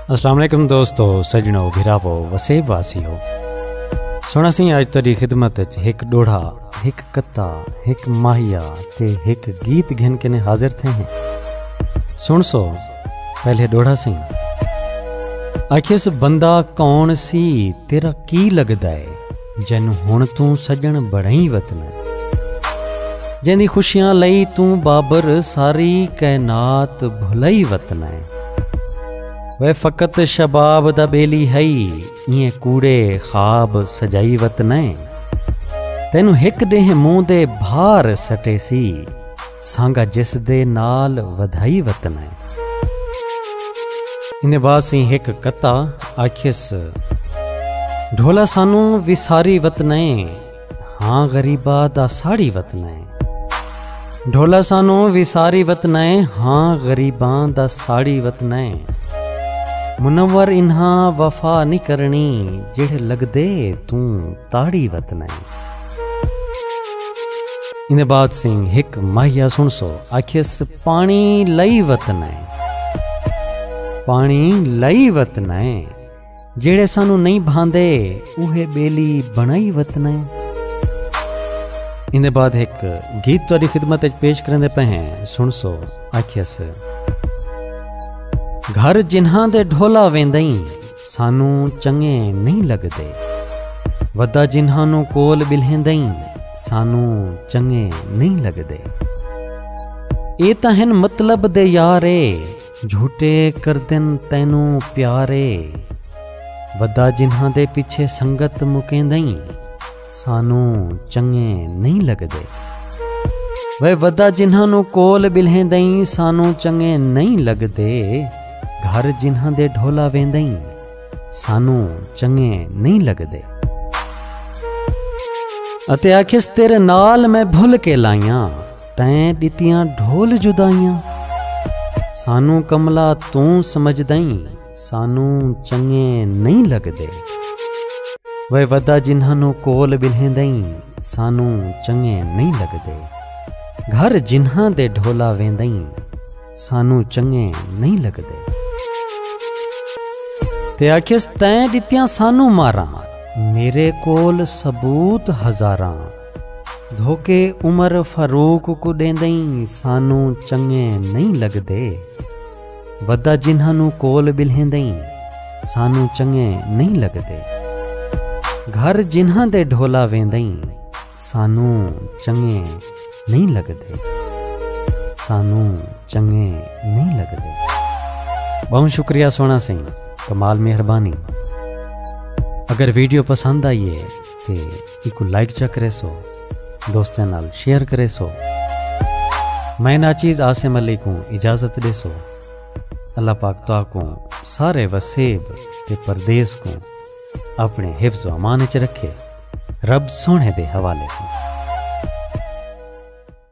السلام علیکم دوستو سجنو بھراو وسیب واسی ہو سونا سی اج تیری خدمت وچ ایک ڈوڑھا ایک کتا ایک ماہیا تے ایک گیت گھن کے نے حاضر تھے ہیں سن سو پہلے ڈوڑھا سی اکھس بندہ کون سی تیرا کی لگدا ہے جن ہن توں سجن بڑھیں وطن اچ جن دی خوشیاں لئی توں بابر ساری کائنات بھلئی وطن ہے وے فقط شباب دا بیلی ہئی ایں کوڑے خواب سجائی وطن ہے تینوں ہک ڈیہ موں دے بھار سٹے سی سانگا جس دے نال ودھائی وطن ہے انہیں واسیں ہک کتا آکھیس ڈھولا سانوں وساری وطن ہے ہاں غریبہ دا ساڑی وطن ہے ڈھولا سانوں وساری وطن ہے ہاں غریباں دا ساڑی وطن ہے منور انہاں وفا نہیں کرنی جڑے لگ دے توں تاڑی وطن ہے انہیں بعد سنگھ ہک ماہیا سنسو آکھیس پانی لئی وطن ہے پانی لئی وطن ہے جیڑے سانو نہیں بھاندے اوہے بیلی بنائی وطن ہے انہیں بعد ہک گیت تاری خدمت اچ پیش کرنے پہ ہیں سنسو آکھیس گھر جنہاں دے ڈھولا ویندائیں سانوں چنگے نہیں لگدے۔ ودا جنہانوں کول ٻلھیندئیں سانوں چنگے نہیں لگدے۔ اے تاں ہن مطلب دے یار اے جھوٹے کردن تینوں پیار اے۔ ودا جنہاں دے پچھے سنگت مکیندئیں۔ سانوں چنگے نہیں لگدے وے ودا جنہاں نو کول بلہیں دئیں سانوں چنگے نہیں لگدے گھر جنہاں دے ڈھولا ویندئیں سانوں چنگے نہیں لگدے اتے آکھس تیرے نال میں بھل کے لائیاں تیں ڈتیاں ڈھول جدائیاں سانوں کملا توں سمجھ دئیں سانوں چنگے نہیں لگدے وے ودا جنہاں نو کول بلھیں دئیں سانوں چنگے نہیں لگدے گھر جنہاں دے ڈھولا ویندئیں سانوں چنگے نہیں لگدے تے آکھیس تیں دتیاں سانوں ماراں میرے کول ثبوت ہزاراں دھوکے عمر فاروق کو ڈیندئیں سانوں چنگے نہیں لگدے ودا جنہاں نوں کول ٻلھیندئیں سانوں چنگے نئیں لڳدے گھر جنہاں دے ڈھولا ویندئیں سانوں چنگے نئیں لڳدے سانوں چنگے نئیں لڳدے ٻہوں شکریہ سوہݨا سئیں کمال مہربانی اگر ویڈیو پسند آئی ہے تے ایکوں لائک چا کریسو دوستیاں نال شیئر کریسو میں ناچیز عاصم علی کوں اجازت ڈیسو اللہ پاک تو کو سارے وسیب تے پردیس کو اپنے حفظ و امان چ رکھے رب سونے دے حوالے سے